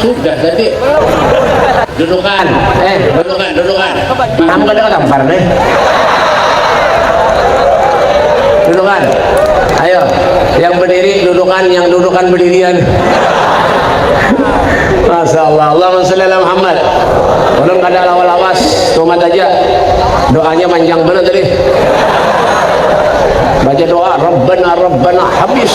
Sudah tadi. Dudukan. Eh, dudukan, dudukan. Paham kada kampar deh. Dudukan. Ayo, yang berdiri dudukan, yang dudukan berdirian. Masya Allah. Allahumma salli ala Muhammad. Belum kada lawas-lawas, tumat aja. Doanya panjang benar tadi. Baca doa, Rabbana, Rabbana, habis.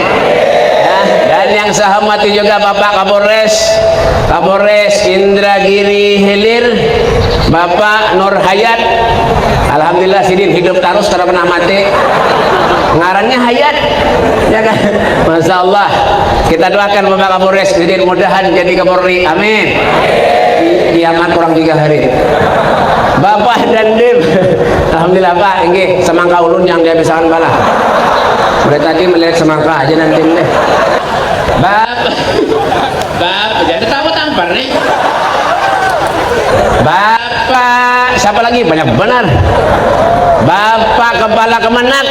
Nah, dan yang saya hormati juga Bapak Kapolres, Kapolres Indra Giri Hilir, Bapak Nur Hayat. Alhamdulillah sidin hidup terus tidak pernah mati. Ngarannya Hayat, ya kan? Masya Allah. Kita doakan Bapak Kapolres sidin mudahan jadi Kapolri. Amin. Kiamat kurang tiga hari. Bapak dan Dim. Alhamdulillah Pak, ini semangka ulun yang dihabiskan bala. Udah tadi melihat semangka aja nanti deh. Bab, bab, jadi tahu tampar nih. Bapak, siapa lagi? Banyak benar. Bapak kepala kemenak.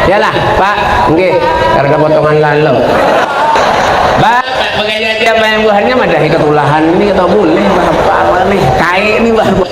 Yalah, Pak. Oke, karena potongan lalu. Bapak, pakai jadi apa yang buahnya? Madah ikut ulahan ini atau boleh? Bapak, nih. Kain ini, Bapak.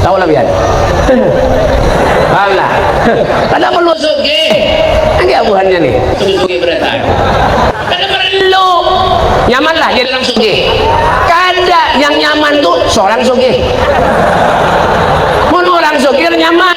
Tahu lah pian. Alah. Kada melusuki. Nangkaya buhannya nih. Sugih-sugih berataan. Kada perlu. Nyaman lah jadi orang sugih. Kada. Yang nyaman tuh seorang sugih. Mun orang sugih nyaman.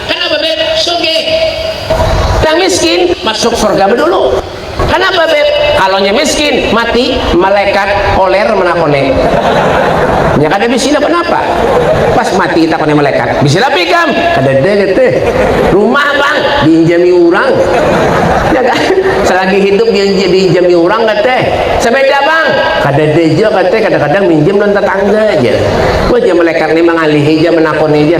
Kana bebeb sugih. Nang miskin masuk surga bedulu. Kana bebeb kalo nya miskin mati malekat koler menakone. Nya kada bisi napa napa. Pas mati ditakone malekat bisi lapi ikam. Kadada kate. Rumah pang diinjami urang. Nya kan. Selagi hidup diinjami urang kate. Sebeda pang. Kadada ja kate. Kadang kadang minjem lawan tetangga ja. Wah jar malekat ne mangalihi ja menakone ja.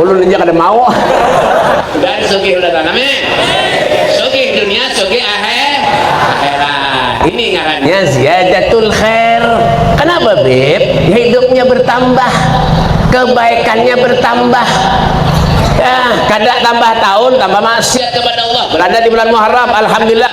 ulun aja kada mau dan sugih udah tanam ya sugih dunia sugih akhir akhirat ini ngarannya ziyadatul khair kenapa bib hidupnya bertambah kebaikannya bertambah ya kada tambah tahun tambah maksiat kepada Allah berada di bulan Muharram alhamdulillah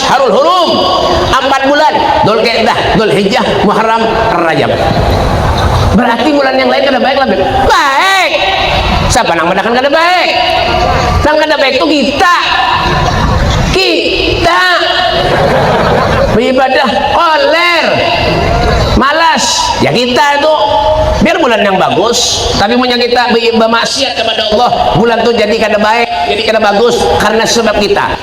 Asharul Hurum, ampat bulan, Dzulqedah, Dzulhijjah, Muharram, Rajab. Berarti bulan yang lain kada baik lah, Beb? Baik! Siapa nang madakan kada baik? Nang kada baik tu kita. Kita! Beribadah, koler! Malas! Ya kita itu. Biar bulan yang bagus, tapi punya kita bermaksiat kepada Allah, bulan tu jadi kada baik, jadi kada bagus, karena sebab kita.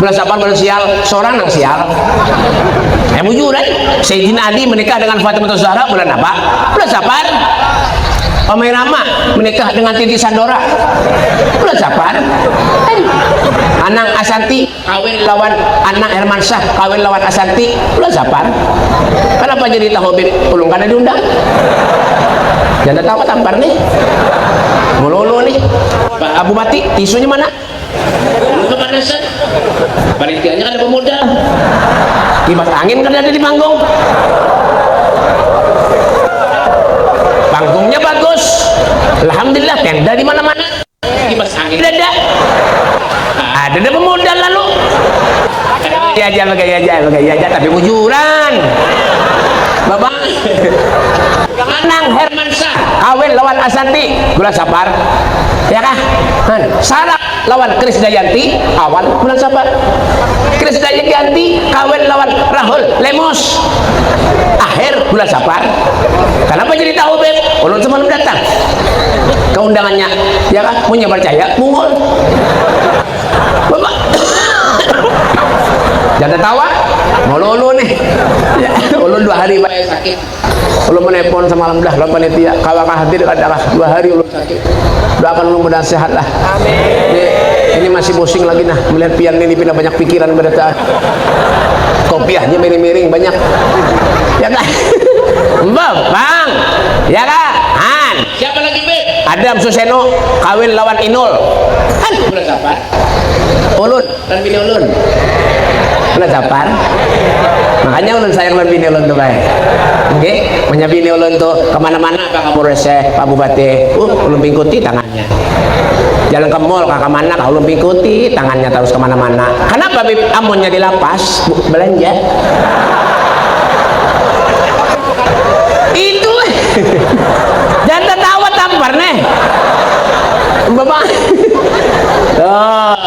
Belas delapan belas sial, seorang nang sial. Eh bujur eh, Sayyidina Ali menikah dengan Fatimah Zahra bulan apa? Belas delapan. Omai Rama menikah dengan Titi Sandora. Bulan Safar. Eh, Anang Asanti kawin lawan Anang Herman Syah kawin lawan Asanti. Bulan Safar. Kenapa jadi tahu Habib? Ulung kada diundang. Jangan tahu tampar nih. Mululu nih. Abu Bati, tisunya mana? Ulun kada set. Panitianya kada bamodal. Kipas angin kada ada di panggung. Panggungnya bagus. Alhamdulillah tenda di mana-mana. Kipas angin kada ada. Ada nang bamodal lalu. Bagaya aja, bagaya aja, bagaya aja tapi bujuran. Babang. Nang Herman. kawin lawan Asanti bulan Sapar ya kah Sarak lawan Krisdayanti awal bulan Sapar Krisdayanti kawin lawan Rahul Lemos akhir bulan Sapar kenapa jadi tahu Beb ulun semalam datang ke undangannya ya kah punya percaya mungul Bapak jangan tawa mulu-ulu nih ya, ulun dua hari banyak sakit Ulun menepon semalam dah lawan panitia, kawa kah hadir kada kah? Dua hari ulun sakit. Doakan ulun mudahan sehat lah. Amin. Ini masih pusing lagi nah melihat pian ini pina banyak pikiran berataan. Kopiahnya miring-miring banyak. Ya kah? Mbah, Bang. Ya kah? Han. Siapa lagi, Beb? Adam Suseno kawin lawan Inul. Han, bulan kapan? Ulun. Lawan bini ulun. Ulah capan. Makanya ulun sayang lawan bini ulun tu bae. Oke, punya bini ulun tu kemana-mana Pak Kapolres, Pak Bupati, uh, ulun pingkuti tangannya. Jalan ke mall ke mana kah ulun pingkuti tangannya terus kemana-mana. Kenapa Bib? Amunnya di lapas belanja. Itu eh. Jangan tertawa tampar nih. Bapak. Oh.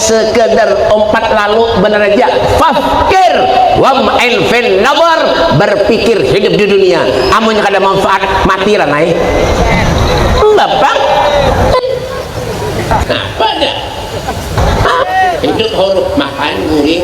sekedar ompat lalu benar aja fakir wam enfen nabar berpikir hidup di dunia amun kada manfaat mati ranai bapak apa dah hidup horuk makan guring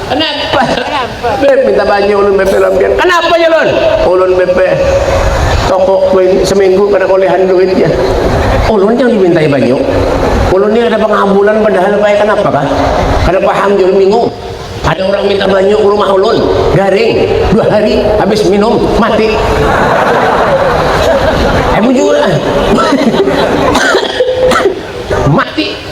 Kenapa? Beb minta banyu ulun BP lawan pian. Kenapa ya ulun? Ulun BP toko seminggu kada kolehan duit ya. Ulun yang dimintai banyu. Ulun ni ada pengabulan padahal paya kenapa kah? Kada paham jul bingung. Ada orang minta banyu ke rumah ulun, garing, dua hari habis minum mati. Eh bujur ah. mati.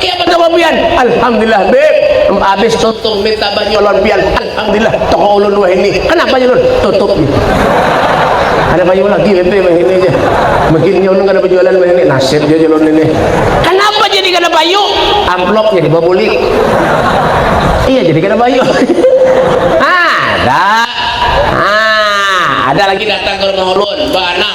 Kaya apa kabar pian? Alhamdulillah beb, abis tutup mi tabah nyolon pian, Alhamdulillah toko ulun wahini, kanapa nya ulun? Tutup mi. Kada kayu lagi beb eh wahini jar, mungkin nya ulun kada bajualan wahini, nasib jar ulun ini. Kanapa jadi kada payu? Amplop nya dibabulik. Iya jadi kada payu. Ada, ada lagi datang ka rumah ulun, ba anak.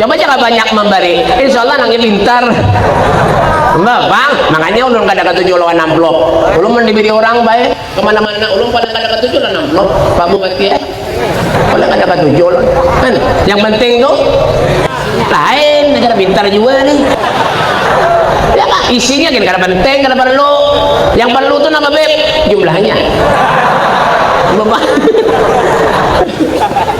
coba aja nggak banyak memberi insya Allah nangnya pintar Mbak, bang, makanya ulun kada ketuju lawan amplop. Ulun mau diberi orang baik kemana-mana, ulun paling kada ketuju lawan amplop. Pak Bupati ya, paling kada ketuju ulun. Kan, yang penting tuh lain, negara pintar juga nih. Ya, isinya kan kada penting, kada perlu. Yang perlu tuh nama beb, jumlahnya. Bapak.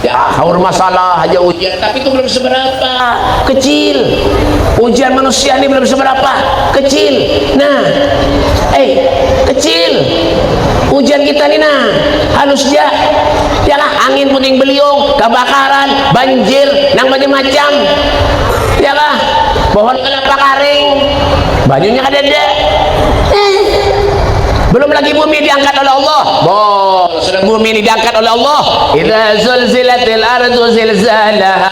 Ya, haur masalah haja ujian, tapi itu belum seberapa, kecil. Ujian manusia ini belum seberapa, kecil. Nah, eh, kecil. Ujian kita ini nah, halus ja. Yalah, angin puting beliung, kebakaran, banjir, nang macam-macam. Yalah, pohon kelapa karing, banyunya kadada. Eh, belum lagi bumi diangkat oleh Allah. Bo. Sudah bumi ini diangkat oleh Allah. Idza zulzilatil ardu zilzalaha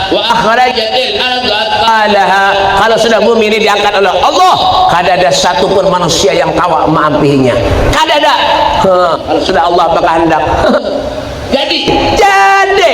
wa akhrajatil ardu atqalaha. Kalau sudah bumi ini diangkat oleh Allah, kada ada satu pun manusia yang kawa maampihinya. Kada ada. Kalau sudah Allah berkehendak. Jadi, jadi.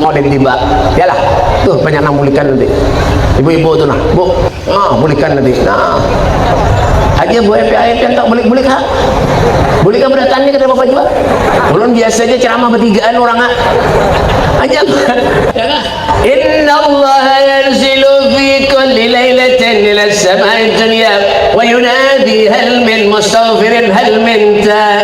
Mau ada yang tiba. Yalah. Tuh banyak nang bulikan nanti. Ibu-ibu tuh nah. Bu. Ah, bulikan nanti. Nah. Aja bu Epi ayat yang tak bulik-bulik ha. Bulik apa datang ni kata bapak juga. Ulun biasa aja ceramah bertigaan orang ha. Aja. Yalah. Inna Allah yanzilu fi kulli lailatin ila samai dunya wa yunadi hal min mustaghfirin hal min ta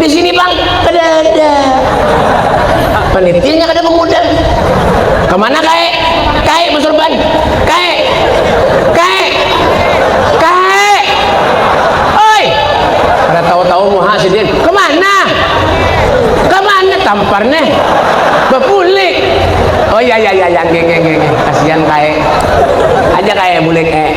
di sini bang ada ada penitinya kada mengundang kemana kai kai mas Urban kai kai kai oi kada tahu-tahu muha sidin kemana kemana tampar nih bepulik oh ya ya ya ya geng geng geng kasihan kai aja kai bulik eh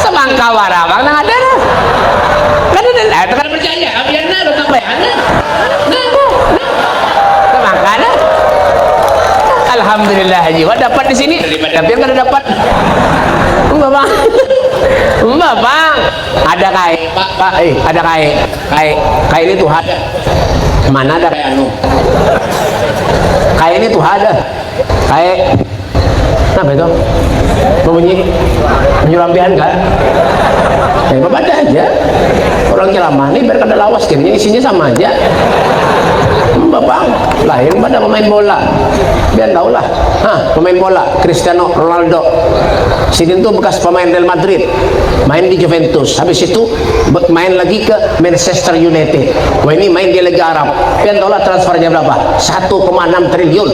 semangka warabang nang ada nah kada ada nah itu kada percaya abian nah datang bayahan nah nah itu semangka nah alhamdulillah jiwa dapat di sini daripada abian kada dapat mbah bang mbah bang ada kai pak pak eh ada kai kai kai ini tuh ada mana ada kai anu kai ini tuh ada Kae. Apa itu? Bunyi bunyi lampian kan? Ya, eh, ada aja. Orang ceramah nih biar kada lawas kayaknya isinya sama aja. Bang, lain pada pemain bola. Biar tahu lah. Hah, pemain bola Cristiano Ronaldo. Sidin tuh bekas pemain Real Madrid, main di Juventus. Habis itu main lagi ke Manchester United. Wah ini main di Liga Arab. Biar tahu lah transfernya berapa? 1,6 triliun.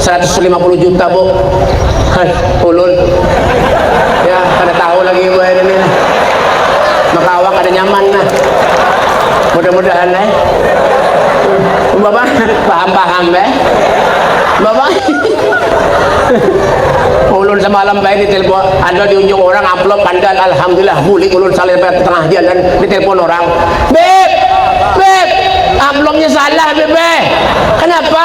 150 juta bu hai ulun ya kada tahu lagi bu ini nih maka awak ada nyaman nah mudah-mudahan eh bapak paham-paham eh bapak ulun semalam baik di telepon ada di ujung orang upload pandan alhamdulillah bulik ulun salir baik tengah jalan di telepon orang beb beb uploadnya salah beb eh. kenapa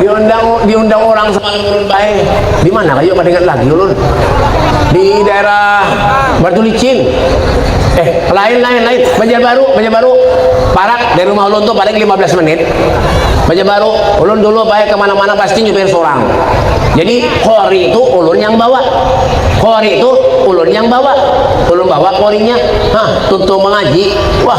diundang diundang orang semalam ulun baik di mana kayu kada ingat lagi ulun di daerah Batu Licin eh lain lain lain Banjar Baru Banjar Baru parak dari rumah ulun tuh paling 15 menit Banjar Baru ulun dulu baik kemana-mana pasti nyupir seorang jadi kori itu ulun yang bawa kori itu ulun yang bawa ulun bawa korinya hah tutup mengaji wah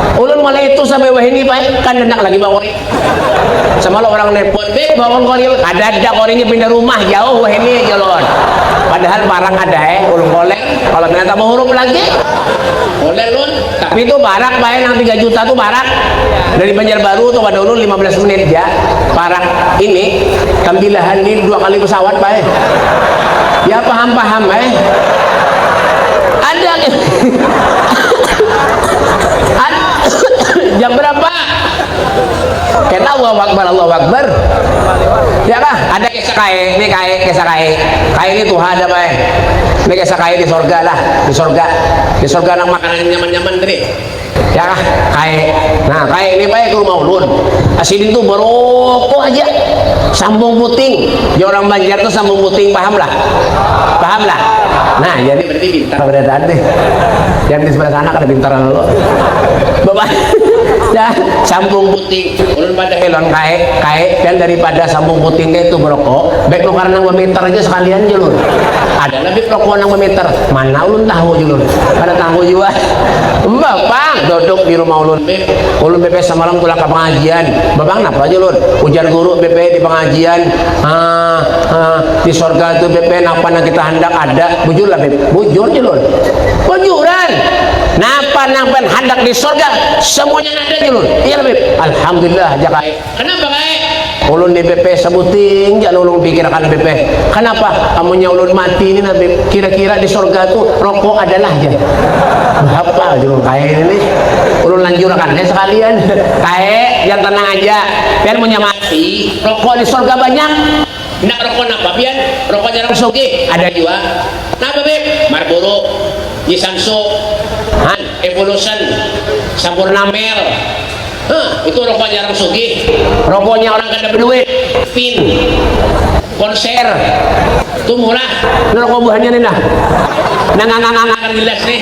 Ulun malah itu sampai wahini pai kan handak lagi bakori. Sama lo orang nepot, beb bangun kori lo. Kada ada korinya pindah rumah jauh wahini aja lo. Padahal parak ada eh ulun kolek. Kalau pindah tambah huruf lagi. Kolek lo. Tapi itu parak pai nang 3 juta tuh parak. Dari Banjarbaru tuh kada ulun 15 menit ya. Parak ini kambilahan ini dua kali pesawat pai. Ya paham-paham eh. Ada jam berapa kena Allahu Akbar Allahu Akbar ya kah ada kisah kai ini kai kisah kai kai ini Tuhan ada mai ini kisah kai di sorga lah di sorga di sorga nang makanan nyaman-nyaman tadi ya kah kai nah kai ini baik ke rumah ulun asidin tuh merokok aja sambung puting ya orang Banjar tuh sambung puting paham lah paham lah nah jadi Jadi pintar. Kada ada deh. Yang di sebelah sana kada pintar lalu. Bapak. Ya, sambung putih. Ulun pada helon kae, kae dan daripada sambung putih deh itu merokok, baik nukar nang meter aja sekalian aja lur. Ada lagi rokok nang meter, mana ulun tahu aja lur. Kada tahu juga. Bapang duduk di rumah ulun be. Ulun be semalam tulak ke pengajian. Bapang napa aja lur? Ujar guru be di pengajian, ah, ah, di sorga itu be napa nang kita hendak ada Bujur lah, Beb. Bujur je, Lul. Bujuran! Napa nang pan handak di sorga, semuanya ada je, Lul. Iya lah, Beb. Alhamdulillah, ja Kai. Kenapa, Kai? Ulun ni, Beb, sebuting ja nulung pikirakan, Beb. Kenapa? Amunnya ulun mati ni nah, Beb, kira-kira di sorga tu rokok ada lah ja. Apa je, Lul, Kai ni? Ulun lanjurakan ja sekalian. Kai, jar tenang aja. Pian munnya mati, rokok di sorga banyak. Ndak rokok napa pian? Rokok jarang sugih, ada jua. Napa beb? Marlboro, Jisansu, han, Evolution, Sampurna Mel. Huh, itu rokok jarang sugih. Rokoknya orang kada beduit. Pin, Konser, tu murah. Nah rokok buhannya nih nah. Nangangangangakan gelas nih.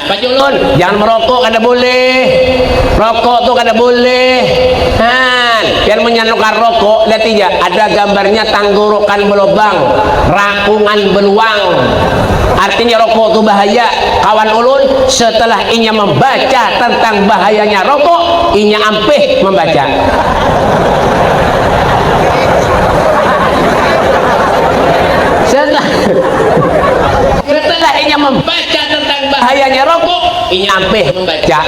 Pak Julun, jangan merokok kada boleh. Rokok tu kada boleh. Han, pian munnya nukar rokok, liati ja, ada gambarnya tanggorokan belobang, rakungan beluang. Artinya rokok tu bahaya. Kawan ulun, setelah inya membaca tentang bahayanya rokok, inya ampih membaca. Setelah, setelah inya membaca baca tentang bahayanya rokok inya beh membaca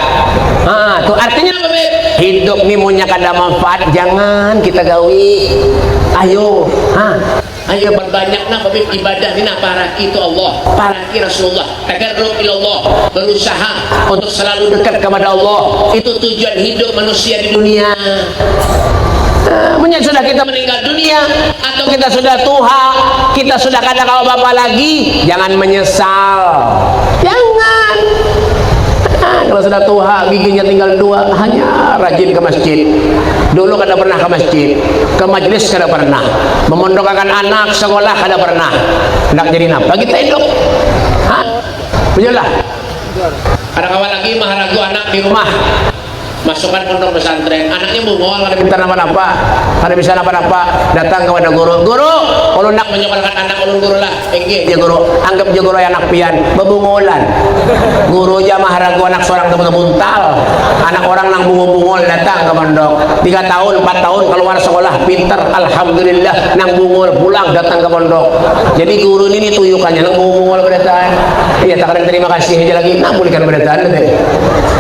ha tu artinya apa beh hidup ni munnya kada manfaat jangan kita gawi ayo ha ayo berbanyak nah babib ibadah ni nah paraki tu Allah paraki Rasulullah tagarrub ilallah berusaha untuk selalu dekat kepada Allah itu tujuan hidup manusia di dunia Munya sudah kita meninggal dunia atau kita sudah tuha, kita sudah kada kawa bapa lagi, jangan menyesal. Jangan. Nah, kalau sudah tuha, giginya tinggal dua, hanya rajin ke masjid. Dulu kada pernah ke masjid, ke majlis kada pernah, memondokakan anak sekolah kada pernah. Hendak jadi napa kita hidup? Hah? Punya lah. Ada kawan lagi maharagu anak di rumah. Masukan pondok pesantren, anaknya mungol, kada pintar napa-napa, kada bisa napa-napa, datang kapada guru, Guru, ulun nak manyakolahkan anak ulun guru lah, Inggih ja guru, anggap ja guru ai anak pian, bebungolan. Guru ja maharagu anak sorang tu bebuntal, anak orang nang bungol-bungol datang ka pondok, tiga tahun, empat tahun kaluar sekolah, pintar, alhamdulillah, nang bungol pulang datang ka pondok. Jadi guru ni dituyukannya nang bungol-bungol berataan, iya takadang terima kasih haja lagi, nang bulikan berataan tadi.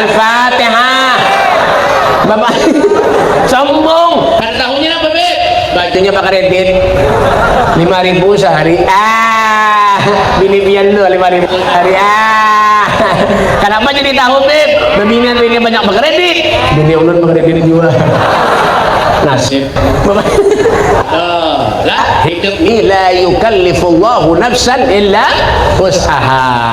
Al-Fatihah. Bapak sombong. Kada tahunya apa be? Bajunya pakai rebit. Lima ribu sehari. Ah, bini pian tuh lima ribu sehari. Ah, kenapa jadi tahu be? Bebinian bini banyak pakai rebit. Bini ulun pakai rebit juga. Nasib. Bapak. Oh, lah hidup ni la yukallifullahu nafsan illa usaha.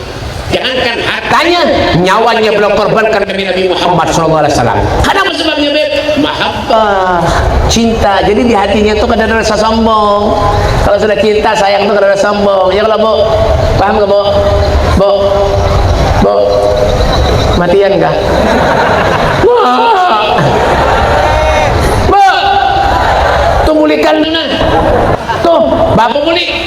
Jangankan hartanya, nyawanya beliau korbankan demi Nabi Muhammad SAW. Kenapa sebabnya, Beb? Mahabbah, cinta. Jadi di hatinya tuh kada ada rasa sombong. Kalau sudah cinta, sayang tuh kada ada sombong. Ya kalau Bu, paham gak Bu? Bu, Bu, matian kah? Bu, Bu, tuh bulikan mana? Tuh, bapak bulik.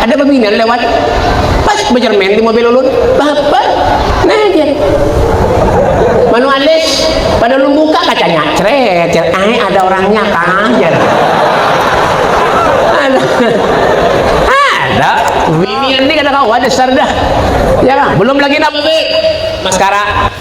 Ada babinian lewat, pas bajarmen di mobil ulun, bahabar, nah jar, manu alis, pada ulun buka kacanya, cret jar, ae ada orangnya kah jar, ada, ada, binian ni kada kawa dasar dah, ya kah, belum lagi nang maskara.